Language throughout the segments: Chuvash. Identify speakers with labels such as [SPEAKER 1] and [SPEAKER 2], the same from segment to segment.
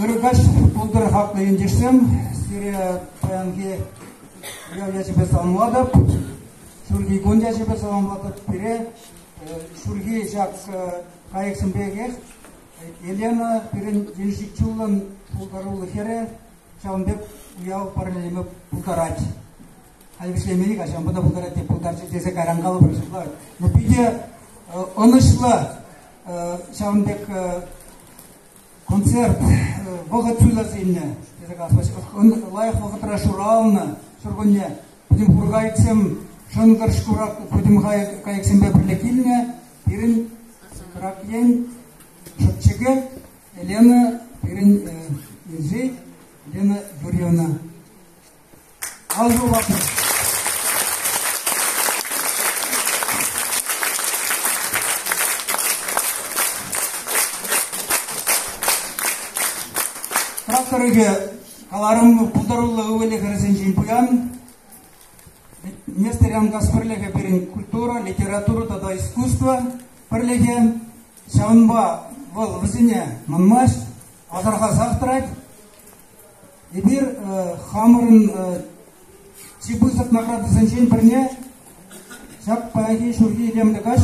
[SPEAKER 1] Ырӑ каҫ пултӑр хаклӑ ентешсем! Сире паянхи уяв ячӗпе саламлатӑп. Ҫурхи кун ячӗпе саламлатӑп. Пире ҫурхи ҫак кайӑксем пекех Елена пирӗн венчичулӑн пултаруллӑ хӗрӗ, ҫавӑн пек уяв парнелеме пултарать. Халь вӗҫлемен каҫанпа та пултарать те пултарчӗ тесе кайран калӑпӑр ҫапла. Но питӗ ӑнӑҫлӑ ҫавӑн пек концерт вӑхӑт суйлас илнӗ, тесе калас лайӑх вӑхӑтра шуралнӑ ҫуркунне пӗтӗм хуркайӑксем шӑнкӑр шкура пӗтӗм кайӑксемпе пӗрле килнӗ. Пирӗн Крак ен, Шӑпчӑкет, Елена, пирӗн инҫет, Елена Юрьевна. Ал юлатӑн. Тракторӗпе каларӑм пултаруллӑ ывӑлӗ-хӗрӗсенчен пуян. Нестор Янгас пӗрлӗхӗ пирӗн культура, литература тата искусство пӗрлӗхӗ. Ҫавӑнпа вӑл вӗсене манмасть, асӑрхасах тӑрать. Эпир хамӑрӑн чи пысӑк наградӑсенчен пӗрне, ҫак паянхи ҫурхи илемлӗ каҫ,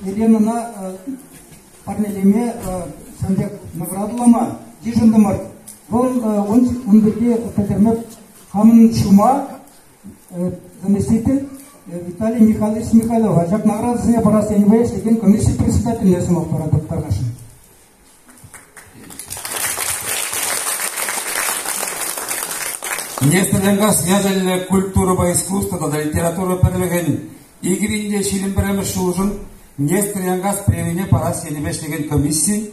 [SPEAKER 1] Еленӑна парнелеме ҫавӑн пек наградӑлама йышӑнтӑмӑр. Вӑл ун пирки пӗлтерме хамӑн ҫума заместитель Виталий Михайлович Михайлова ҫакна ыратусене парас енӗпе ӗҫлекен комисси председательне сӑмах паратӑп, тӑрӑшӑн.
[SPEAKER 2] Нефтенеркас ячӗллӗ культурӑпа искусство тата литература пӗрлӗхӗн икӗ ҫирӗм пӗрремӗш ҫулшӑн Нефтенеркас премине парас енӗпе ӗҫлекен комисси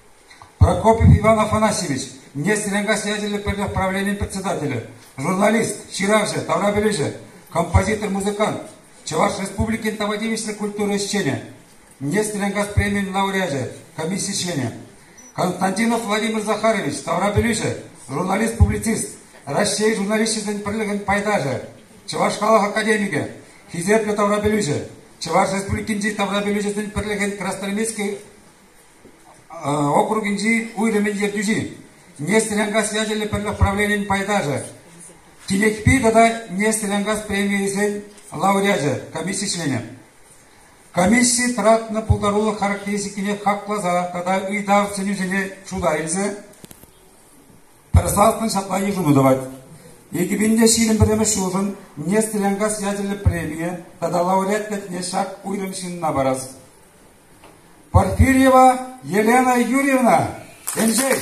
[SPEAKER 2] Прокопьев Иван Афанасьевич, нефть-энергосвязь ячӗллӗ пӗрлӗх правленийӗн председателӗ, журналист, ҫыравҫӑ, таврапӗлӳҫӗ, композитор, музыкант, Чӑваш Республикин тава тивӗҫлӗ культура ӗҫченӗ, нефть-энергогаз премийӗн лауреачӗ, комисси членӗ. Константинов Владимир Захарович, таврапӗлӳҫӗ, журналист, публицист, Раҫҫей журналисчӗсен пӗрлӗхӗн пайташӗ, Чӑваш халӑх академикӗ, хисеплӗ таврапӗлӳҫӗ, Чӑваш Республикинчи таврапӗлӳҫӗсен пӗрлӗхӗн Красноармейски округӗнчи уйрӑмӗн ертӳҫи, Нефть-Ренкас ячӗллӗ пӗрлӗх правленийӗн пайташӗ, Тилӗкпи тата Нефть-Ренкас премийӗсен лауреачӗ комисси членӗ. Комисси тӑратнӑ пултарулӑх характеристикине хакласа тата ыйтав сӗнӳсене шута илсе пӗр салтӑн ҫапла йышӑну тӑвать. Экипинде ҫирӗм пӗрремӗш ҫулшӑн Нефть-Ренкас ячӗллӗ премие тата лауреат ятне ҫак уйрӑм ҫынна парас. Порфирьева Елена Юрьевна, Эльшей!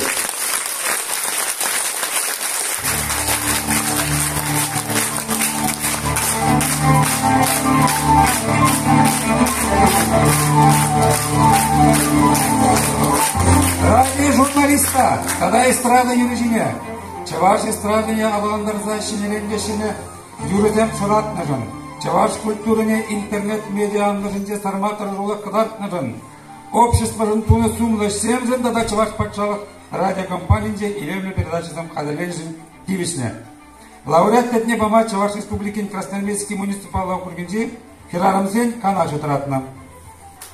[SPEAKER 2] Радий журналиста, тата эстрада юрӑҫине, чӑваш эстрадине аталантарса ҫӗнеленкеҫӗне юрӑсем шӑратнӑшӑн, чӑваш культурине интернет-медиа анлӑшӗнче сарма тӑрӑшулӑх кӑтартнӑшӑн, обществӑшӑн тунӑ сумлӑ ӗҫсемшӗн тата Чӑваш патшалӑх радиокомпанийӗнче илемлӗ передачӑсем хатӗрленӗшӗн тивӗҫнӗ. Лауреат ятне пама Чӑваш Республикин Красноармейски муниципаллӑ округӗнчи хӗрарӑмсен канашӗ тӑратнӑ.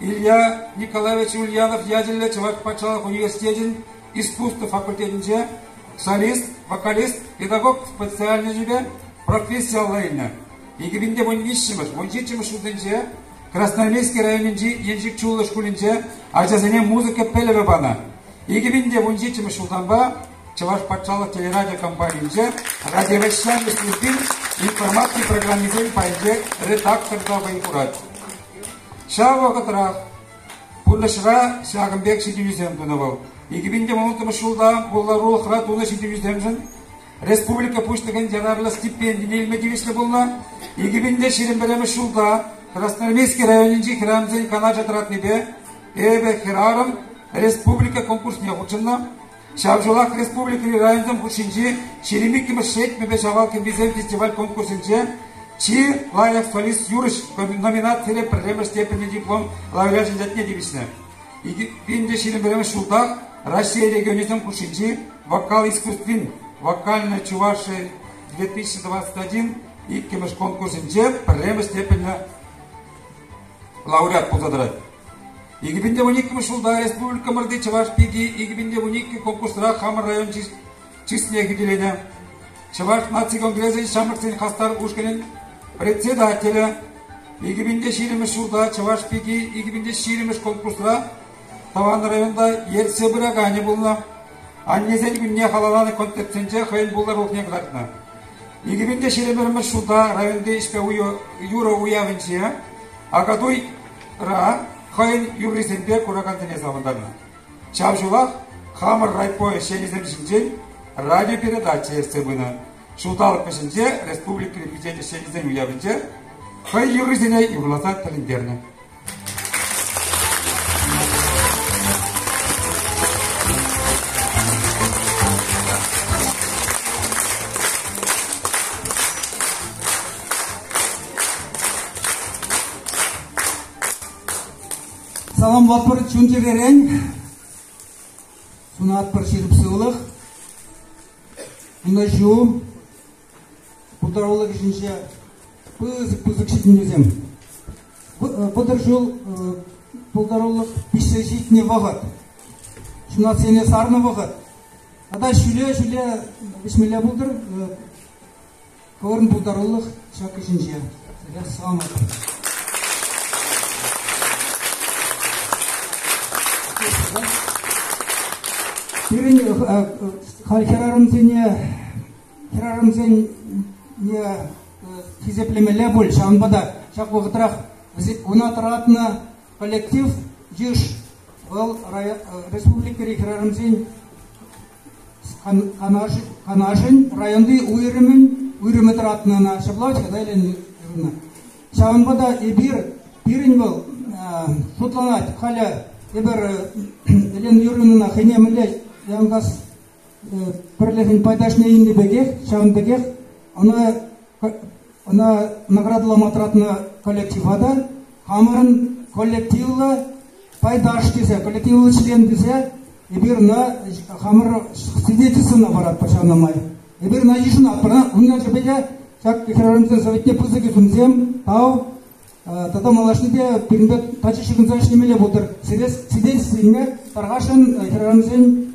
[SPEAKER 2] Илья Николаевич Ульянов ячӗллӗ Чӑваш патшалӑх университечӗн искусство факультетӗнче солист, вокалист, педагог специальноҫӗпе профессиялла илнӗ. 2015 2017 ҫулсенче Красноармейски районӗнчи Еншик Чуллӑ шкулӗнче ачасене музыка пӗлӗвӗ панӑ. 2017 ҫултанпа Чӑваш патшалӑх телерадио компанийӗнче радиовещани службин информаци программисен пайӗнче редактор та вӑй хурать. Ҫав вӑхӑтрах пурнӑҫра ҫакӑн пек ҫитӗнӳсем тунӑ вӑл. 2011 ҫулта пултарулӑхра тунӑ ҫитӗнӳсемшӗн республика Пуҫлӑхӗн янамлӑ стипендине илме тивӗҫлӗ пулнӑ. 2000 пӗрремӗш ҫулта Красноармейски районӗнчи храмсен канашӗ тӑратнипе эпӗ хӗрарӑм республика конкурсне хутшӑннӑ. Ҫав ҫулах республикӑри районсем хушшинчи ҫирӗм иккӗмӗш Шетмӗпе Ҫавал кӗмписем фестиваль-конкурсӗнче чи лайӑх солист юрӑҫ номинацире пӗрремӗш степеньлӗ диплом лауреачӗн ятне тивӗҫнӗ. 2021 ҫултах Раҫҫей регионӗсем хушшинчи вокал искусствин вокальная Чувашия 2021 иккӗмӗш конкурсӗнче пӗрремӗш степеньлӗ лауреат пулса тӑрать. Икӗ пин те вун иккӗмӗш ҫулта республикӑмӑрти Чӑваш пики икӗ пин те вун иккӗ конкурсра хамӑр район чысне хӳтӗленӗ. Чӑваш наци конгресӗн ҫамрӑксен хастар ушкӑнӗн председателӗ икӗ пин те ҫирӗммӗш ҫулта Чӑваш пики икӗ пин те ҫирӗммӗш конкурсра тӑван районта ертсе пыраканӗ пулнӑ. Аннесен кунне халалланӑ концертсенче хӑйӗн пултарулӑхне кӑтартнӑ. Икӗ пин те ҫирӗммӗш ҫулта районти ӗҫпе юрӑ уявӗнче Акатуй ра хӑйӗн юррисемпе куракансене савӑнтарнӑ. Ҫав ҫулах хамӑр райпо ӗҫченӗсем ҫинчен радиопередача ертсе пынӑ. Ҫулталӑк вӗҫӗнче республика Президент ӗҫченӗсен уявӗнче хӑй юррисене юрласа тӗлӗнтернӗ.
[SPEAKER 1] Саламлатпӑр чун-чӗререн, сунатпӑр ҫирӗп сывлӑх, ӑнӑҫу, пултарулӑх ӗҫӗнче пысӑк пысӑк ҫитӗнӳсем. Вӑтӑр ҫул пултарулӑх пиҫсе ҫитнӗ вӑхӑт, ҫунасене сарнӑ вӑхӑт. Тата ҫӳле-ҫӳле вӗҫмелле пултӑр, Хӑвӑрӑн пултарулӑх ҫак ӗҫӗнче. Тӗлех савӑнатӑп. Пирӗн халь хӗрарӑмсене хӗрарӑмсен хисеплемелле пуль, ҫавӑнпа та ҫак вӑхӑтрах ӑна тӑратнӑ коллектив йыш. Вӑл республикӑри хӗрарӑмсен Канашӗн районти уйрӑмӗн уйрӑмӗ тӑратнӑ ӑна ҫапла ҫырса илнӗ. Ҫавӑнпа та эпир пирӗн вӑл шутланать халӗ эпир Елена Юрьевнӑна хӑйне мӗнле янкас пӗрлӗхӗн пайташне илнӗ пекех ҫавӑн пекех ӑна ӑна наградӑлама тӑратнӑ коллектива та хамӑрӑн коллективлӑ пайташ тесе, коллективлӑ член тесе, эпир ӑна хамӑр свидетельствӑна паратпӑр ҫавна май. Эпир ӑна йышӑнатпӑр. Ун ячӗпе те ҫак хӗрарӑмсен советне пысӑк ӳсӗмсем, тав, тата малашнепе пирӗнпе тачӑ ҫыхӑнса ӗҫлемелле пултӑр. Сире свидетельство илме тархасшӑн хӗрарӑмсен